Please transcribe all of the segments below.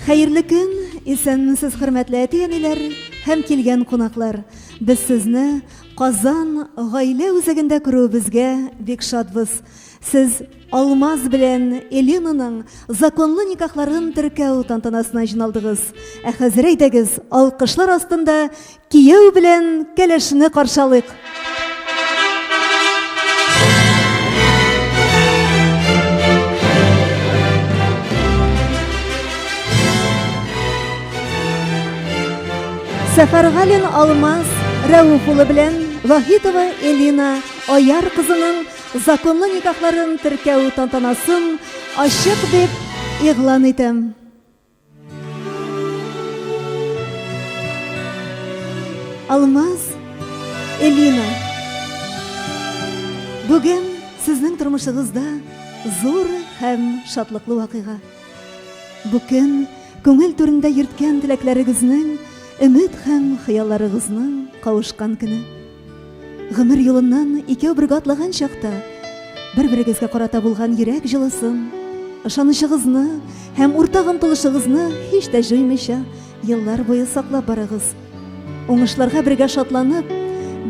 Хәерле көн, исәнмесез хөрмәтле әти-әниләр һәм килгән кунаклар. Без сезне Казан гаилә үзәгендә күрүебезгә бик шатбыз. Сез Алмаз белән Элинаның законлы никахларын теркәү тантанасына җыйналдыгыз. Ә хәзер әйдәгез, алкышлар астында Кияү белән кәләшне каршалыйк. Сәфәргалин Алмаз Рәүф улы белән Вахитова Элина Аяр кызының законлы никахларын теркәү тантанасын ачык дип игълан итәм. Алмаз Элина Бүген сезнең тормышыгызда зур һәм шатлыклы вакыйга. Бу көн күңел түрендә йөрткән теләкләрегезнең, өмет һәм хыялларыгызның кавышкан көне. Гомер юлыннан икәү бергә атлаган чакта бер-берегезгә карата булган йөрәк җылысын, ышанычыгызны һәм уртак омтылышыгызны һич тә җуймыйча еллар буе саклап барыгыз. Уңышларга бергә шатланып,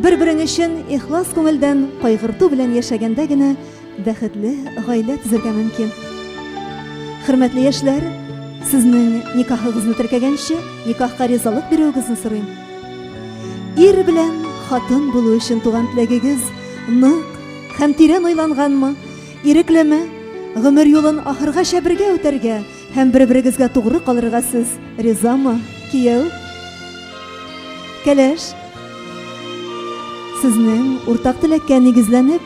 бер-берең өчен ихлас күңелдән кайгырту белән яшәгәндә генә Бәхетле гаилә төзергә мөмкин. Хөрмәтле яшьләр, сезнең никахыгызны теркәгәнче, никахка ризалык бирүегезне сорыйм. Ир белән хатын булу өчен туган теләгегез нык һәм тирән уйланганмы? Иреклеме? Гомер юлын ахыргача бергә үтәргә һәм бер-берегезгә тугры калырга сез ризамы, кияү? Кәләш, сезнең уртак теләккә нигезләнеп,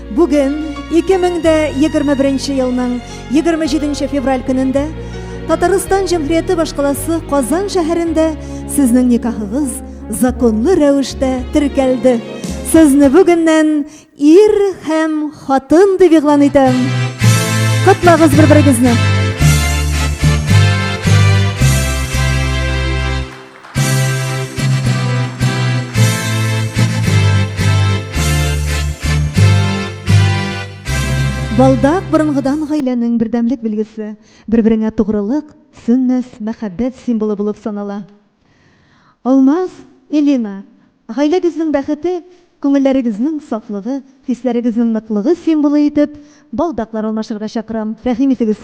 Бүген 2021 елның 27 февраль көнендә Татарстан Җәмһүрияте башкаласы Казан шәһәрендә сезнең никахыгыз законлы рәвештә теркәлде. Сезне бүгеннән ир һәм хатын дип игълан итәм. Котлагыз бер-берегезне. Балдак борынгыдан гаиләнең бердәмлек билгесе, бер-береңә тугрылык, сөннәс, мәхәббәт символы булып санала. Алмаз, Элина, гаиләгезнең бәхете, күңелләрегезнең сафлыгы, хисләрегезнең ныклыгы символы итеп балдаклар алмашырга чакырам, рәхим итегез!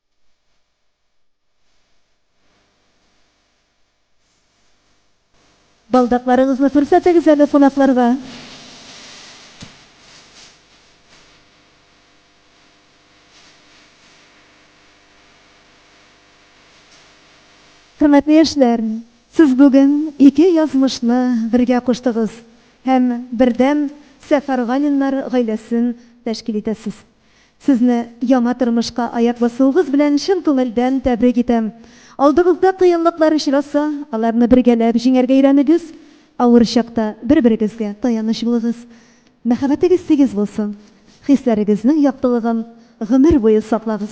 Балдакларыгызны күрсәтегез әле кунакларга. Хөрмәтле яшьләр, сез бүген ике язмышны бергә куштыгыз һәм бердәм Сәфәргалиннар гаиләсен тәшкил итәсез. Сезне яңа тормышка аяк басуыгыз белән чын күңелдән тәбрик итәм. Алдыгызда кыенлыклар очраса, аларны бергәләп җиңәргә өйрәнегез, авыр чакта бер-берегезгә таяныч булыгыз. Мәхәббәтегез тигез булсын, хисләрегезнең яктылыгын гомер буе саклагыз.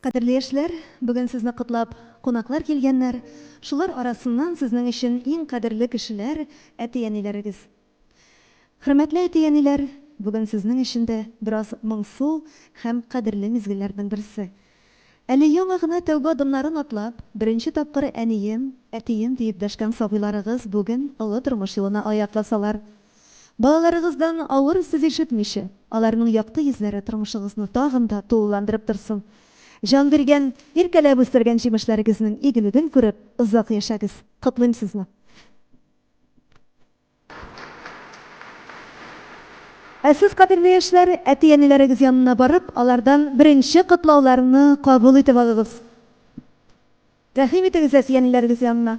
Кадерле яшьләр, бүген сезне котлап кунаклар килгәннәр, шулар арасыннан сезнең өчен иң кадерле кешеләр, әти-әниләрегез. Хөрмәтле әти-әниләр, бүген сезнең өчен дә бераз моңсу һәм кадерле мизгелләрнең берсе. Әле яңа гына тәүбә адымнарын атлап, беренче тапкыр әнием, әтием диеп дәшкән сабыйларыгыз бүген олы тормыш юлына аяк басалар. Балаларыгыздан авыр сүз ишетмичә, аларның якты йөзләре тормышыгызны тагын да тулыландырып торсын. Җан биргән, иркәләп үстергән җимешләрегезнең игелеген күреп, озак яшәгез. Котлыйм сезне! Ә сез, кадерле яшьләр, әти-әниләрегез янына барып, алардан беренче котлауларны кабул итеп алыгыз. Рәхим итегез әтиәниләрегез янына.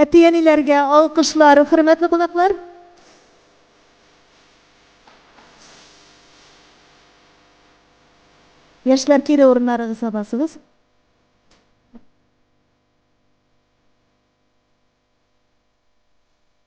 Әти-әниләргә алкышлар, хөрмәтле кунаклар! Яшьләр, кире урыннарыгызга басыгыз.